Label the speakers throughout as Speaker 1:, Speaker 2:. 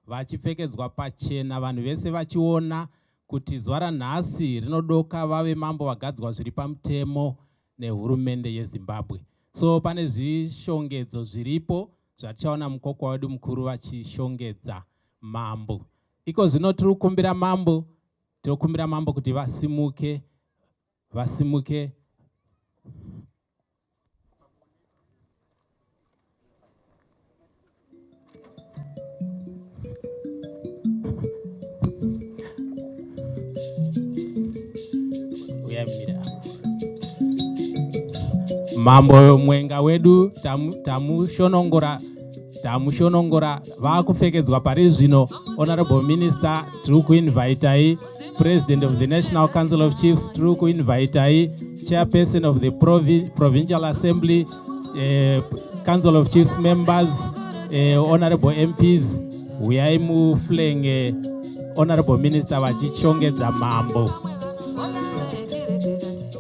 Speaker 1: vachipfekedzwa pachena vanhu vese vachiona kuti zuva ranhasi rinodoka vave mambo vagadzwa zviri pamutemo nehurumende yezimbabwe so pane zvishongedzo zviripo zvatichaona mukokwa wedu mukuru vachishongedza mambo iko zvino tiri kukumbira mambo tiri kukumbira mambo kuti vasimuke vasimuke mambo mwenga wedu tamushonongora tamushonongora vakupfekedzwa pari zvino honorable minister tiri kuinvitai President of the National Council of Chiefs tiri kuinvitai chairperson of the Provi Provincial Assembly eh, Council of Chiefs members eh, honorable MPs huyai muflenge honorable minister vachichongedza mambo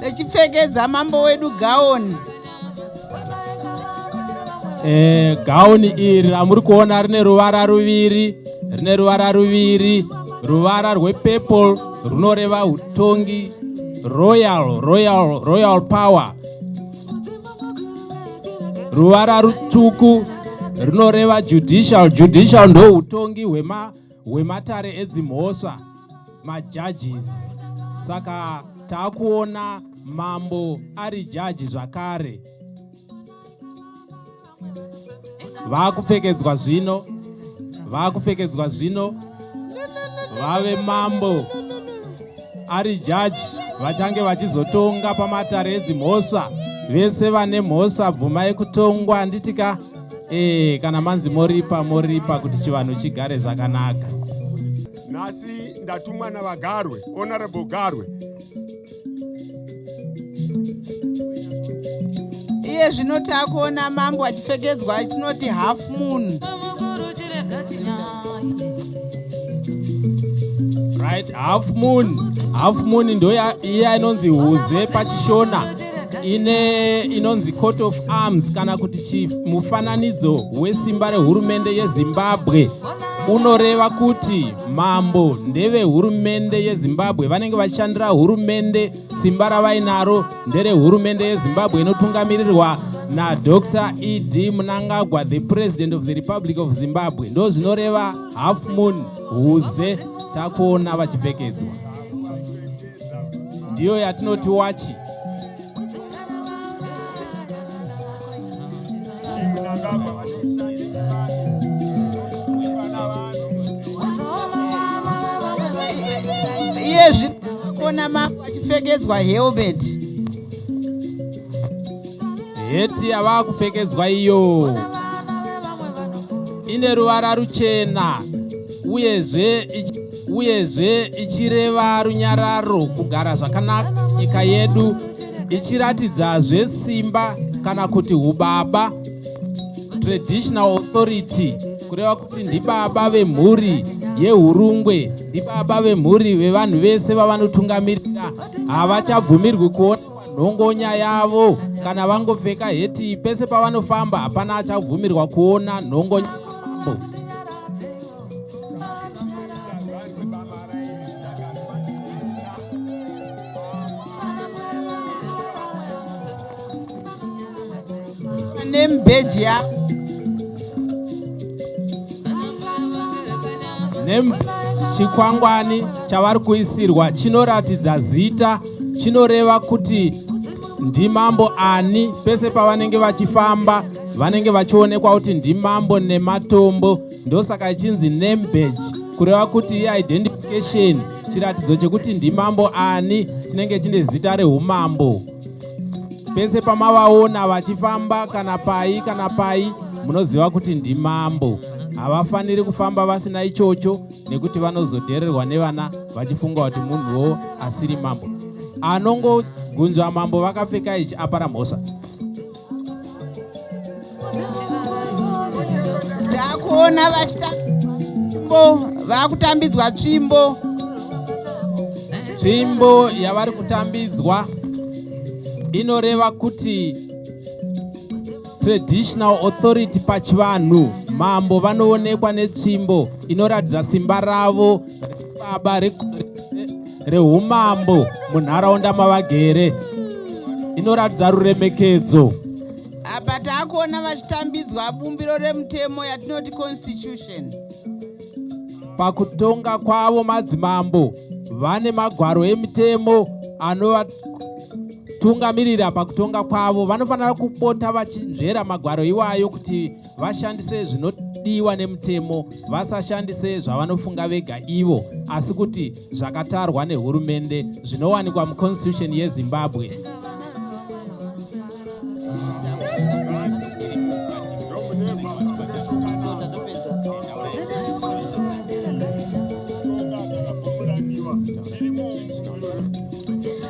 Speaker 2: Techipfekedza mambo wedu gaoni.
Speaker 1: Eh, gaoni iri ramuri kuona rine ruvara ruviri, rine ruvara ruviri, ruvara rwepurple runoreva utongi royal royal royal power ruvara rutsvuku runoreva judicial judicial ndoutongi hwema wematare edzimhosva majudges saka taakuona mambo ari jaji zvakare vaakupfekedzwa zvino vaakupfekedzwa zvino vave mambo ari jaji vachange vachizotonga pamatare edzimhosva vese vane mhosva bvuma yekutongwa anditika ee eh, kana manzi moripa moripa kuti chivanhu chigare zvakanaka nhasi
Speaker 3: ndatumwa navagarwe honorable garwe
Speaker 2: iye zvino takuona mambo achipfekedzwa atinoti half moon
Speaker 1: right half moon half moon ndo iya inonzi huze pachishona ine inonzi court of arms kana kuti chimufananidzo wesimba rehurumende yezimbabwe unoreva kuti mambo ndevehurumende yezimbabwe vanenge vachishandira hurumende simba ravainaro nderehurumende yezimbabwe inotungamirirwa nadr ed munangagwa the president of the republic of zimbabwe ndo zvinoreva half moon huze takuona vachipfekedzwa ndiyo yatinoti wachi
Speaker 2: iye zvinoona mambo achipfekedzwa helmet
Speaker 1: heti yavaa kupfekedzwa iyo ine ruvara ruchena uyezve uyezve ichireva runyararo kugara zvakanaka nyika yedu ichiratidzazve simba kana kuti ubaba traditional authority kureva kuti ndibaba vemhuri yehurungwe ndibaba vemhuri vevanhu vese vavanotungamirira havachabvumirwi kuona nhongonya yavo kana vangopfeka heti pese pavanofamba hapana achabvumirwa kuona nhongonya yavo
Speaker 2: name badge ya
Speaker 1: name chikwangwani chavari kuisirwa chinoratidza zita chinoreva kuti ndimambo ani pese pavanenge vachifamba vanenge vachionekwa kuti ndimambo nematombo ndosaka ichinzi name badge kureva kuti iidentification chiratidzo chekuti ndimambo ani chinenge chine zita reumambo pese pamavaona vachifamba kana pai kana pai munoziva kuti ndimambo havafaniri kufamba vasina ichocho nekuti vanozodhererwa nevana vachifunga kuti munhuwo asiri mambo anongogunzva mambo vakapfeka ichi apara mhosva
Speaker 2: Ndakuona vachitambo vakutambidzwa tsvimbo.
Speaker 1: Tsvimbo yavari kutambidzwa inoreva kuti traditional authority pachivanhu mambo vanoonekwa netsvimbo inoratidza simba ravo baba rehumambo munharaunda mavagere inoratidza ruremekedzo apa
Speaker 2: taakuona vachitambidzwa bumbiro remutemo yatinoti constitution pakutonga
Speaker 1: kwavo madzimambo vane magwaro emitemo anovatungamirira pakutonga kwavo vanofanira kupota vachinzvera magwaro iwayo kuti vashandise zvinodiwa nemutemo vasashandise zvavanofunga vega ivo asi kuti zvakatarwa nehurumende zvinowanikwa muconstitution yezimbabwe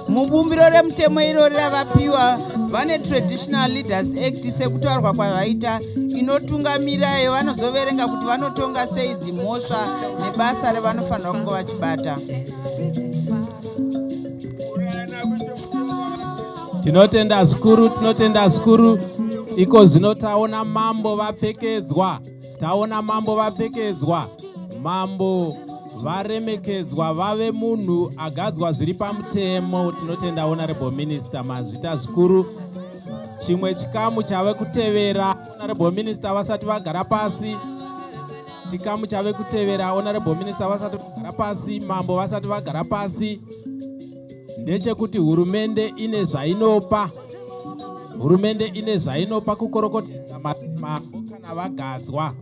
Speaker 2: mubumbiro remutemo irori ravapiwa vane traditional leaders act sekutaurwa kwavaita inotungamira iyo vanozoverenga kuti vanotonga sei dzimhosva nebasa revanofanira kunge vachibata
Speaker 1: tinotenda zvikuru tinotenda zvikuru iko zvino taona mambo vapfekedzwa taona mambo vapfekedzwa mambo varemekedzwa vave munhu agadzwa zviri pamutemo tinotenda honorable minister mazvita zvikuru chimwe chikamu chave kutevera honorable minister vasati vagara pasi chikamu chave kutevera honorable minister vasati vagara pasi mambo vasati vagara pasi ndechekuti hurumende ine zvainopa hurumende ine zvainopa kukorokotedza mambo kana vagadzwa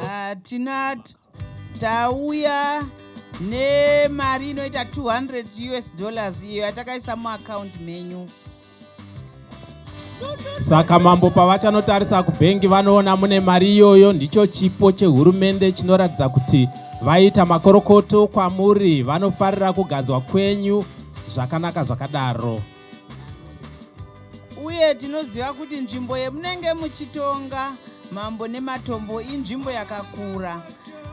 Speaker 1: ah,
Speaker 2: tinat tauya nemari inoita 200 us dollars iyo yatakaisa muakaundi menyu
Speaker 1: Saka mambo pavachanotarisa kubhengi vanoona mune mari iyoyo, ndicho chipo chehurumende chinoratidza kuti vaita makorokoto kwamuri, vanofarira kuganzwa kwenyu zvakanaka zvakadaro.
Speaker 2: Uye tinoziva kuti nzvimbo yemunenge muchitonga mambo nematombo inzvimbo yakakura.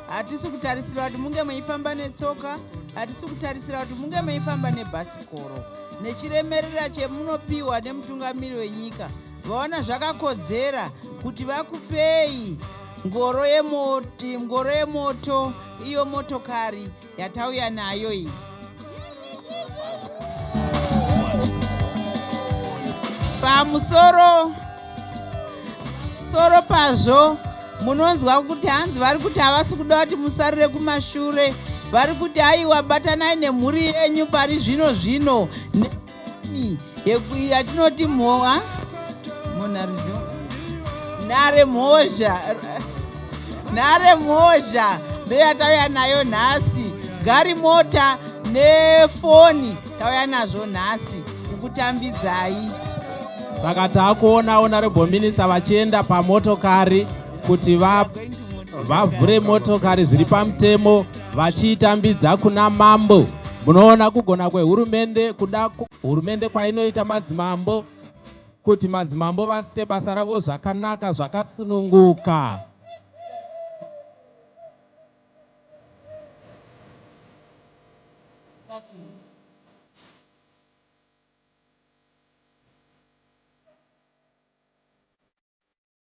Speaker 2: hatisi kutarisira kuti munge meifamba netsoka hatisi kutarisira kuti munge meifamba nebhasikoro nechiremerera chemunopiwa nemutungamiri wenyika vaona zvakakodzera kuti vakupei ngoro yemoto iyo motokari yatauya nayo iyi pamusoro soro pazvo munonzwa kuti hanzi vari kuti havasi kuda kuti musarire kumashure vari kuti aiwa batanai nemhuri yenyu pari zvino zvino yatinoti mhowa munharizvo nhare mhozha nhare mhozha ndoyatauya nayo nhasi gari mota nefoni tauya nazvo nhasi kukutambidzai
Speaker 1: saka taakuona honorable minister vachienda pamotokari kuti vavhure motokari zviri pamutemo va vachiitambidza kuna mambo munoona kugona kwehurumende kuda hurumende kwainoita madzimambo kuti madzimambo vaite basa ravo zvakanaka zvakasununguka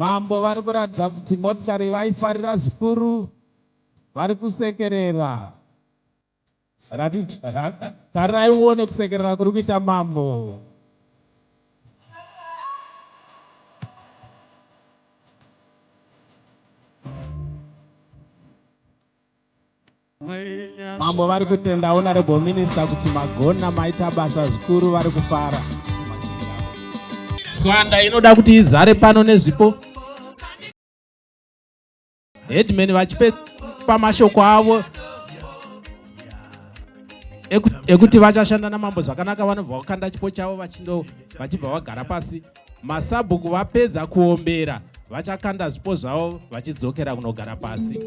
Speaker 1: Mambo vari kuratidza kuti motikari vaifarira zvikuru, vari kusekerera. Tarirai uone kusekerera kuri kuita mambo. Mambo vari kutenda honorable minister kuti magona maita basa zvikuru vari kufara. Tswanda inoda kuti izare pano nezvipo. Headman vachipe pamashoko avo ekuti vachashanda namambo zvakanaka vanobva vakanda chipo chavo vachibva vagara pasi Masabhuku vapedza kuombera vachakanda zvipo zvavo vachidzokera kunogara pasi.